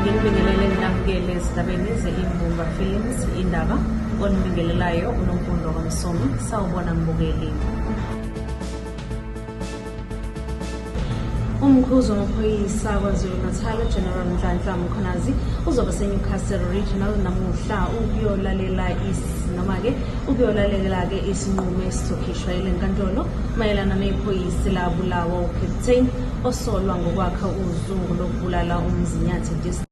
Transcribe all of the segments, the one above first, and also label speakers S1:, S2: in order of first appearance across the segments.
S1: Ngikubingelele nginamukele ezindabeni ze-Imbumba Films indaba onibingelelayo unomfundo kamsomi sawubona mbukeli umkhuzi wamaphoyisa kwazulu-natal ugeneral nhlanhla mkhonazi uzobe senewcastle regional namuhla ukuyolalela noma-ke ukuyolalela-ke isinqumo esizokhishwa yile nkantolo Mayelana nephoyisa labulawa uCaptain osolwa ngokwakha uzungu lokubulala uMzinyathi District.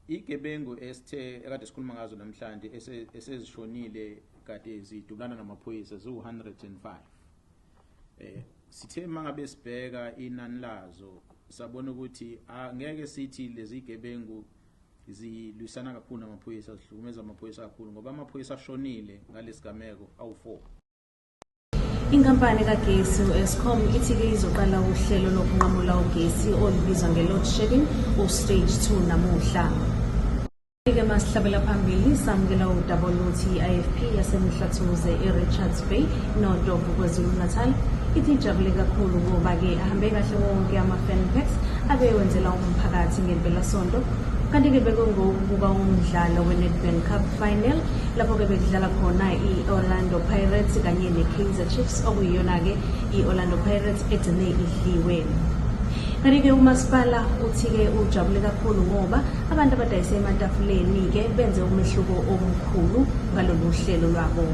S2: Igebengu esithe ekade sikhuluma ngazo namhlanje esezishonile kade zidubulana namaphoyisa ziwu-105 eh sithe mangabe sibheka inani lazo sabona ukuthi angeke sithi lezi gebengu zilwisana kakhulu namaphoyisa zihlukumeza amaphoyisa kakhulu ngoba amaphoyisa ashonile ngalesigameko awu-4 Inkampani
S1: kagesi u-Eskom ithi-ke izoqala uhlelo lokunqamula ugesi olubizwa nge-load shedding u-stage 2 namuhla. Ke masihlabela phambili samukela udaba oluthi i-IFP yaseMhlathuze e-Richards Bay noDovu KwaZulu-Natal ithi ijabule kakhulu ngoba-ke ahambe kahle wonke ama-fanpax abewenzela umphakathi ngempelasonto kanti-ke bekungokuba umdlalo we-Nedbank Cup final lapho-ke bekudlala khona i-orlando pirates kanye ne-kaizer chiefs okuyiyona-ke i-orlando pirates egcine idliwe kanti-ke umasipala uthi-ke ujabule kakhulu ngoba abantu abadayise ematafuleni-ke benze umehluko omkhulu ngalolu hlelo lwabo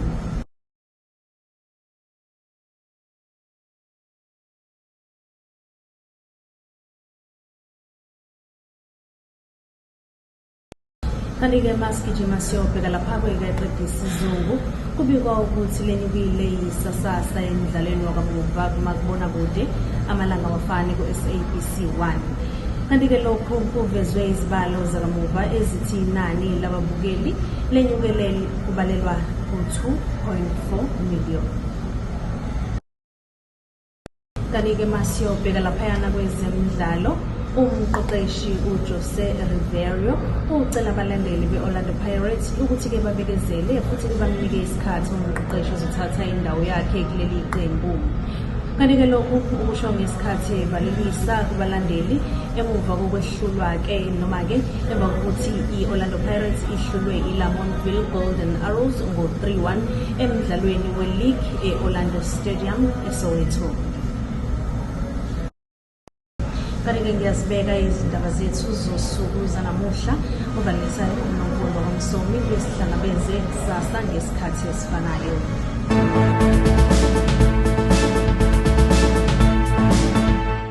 S1: Kanti-ke masigijima siyobheka lapha kwekeqe isizungu kubikwa ukuthi lenye kuyileyisasasa emdlalweni wakamuva kumakubona kude amalanga wafani ku-sabc 1 kanti-ke lokhu kuvezwe izibalo zakamuva ezithi inani lababukeli lenyukele kubalelwa ku-2.4 million Kanike masiyobheka laphayana kwezemidlalo umqeqeshi ujose riverio ucela abalandeli be-orlando pirates ukuthi-ke babekezele futhi bamnike isikhathi umqeqeshi ozothatha indawo yakhe kuleli qembu kanti-ke lokhu ukusho ngesikhathi evalelisa kubalandeli emuva kokwehlulwa-ke noma-ke emva kokuthi i-orlando pirates ihlulwe ilamontville golden arrows ngo-3 1 emdlalweni weligi e-orlando stadium eSoweto. Kanti-ke ngiyazibeka izindaba zethu zosuku zanamuhla uvalisa uNonkolo Msomi besihlangabeze kusasa ngesikhathi esifanayo.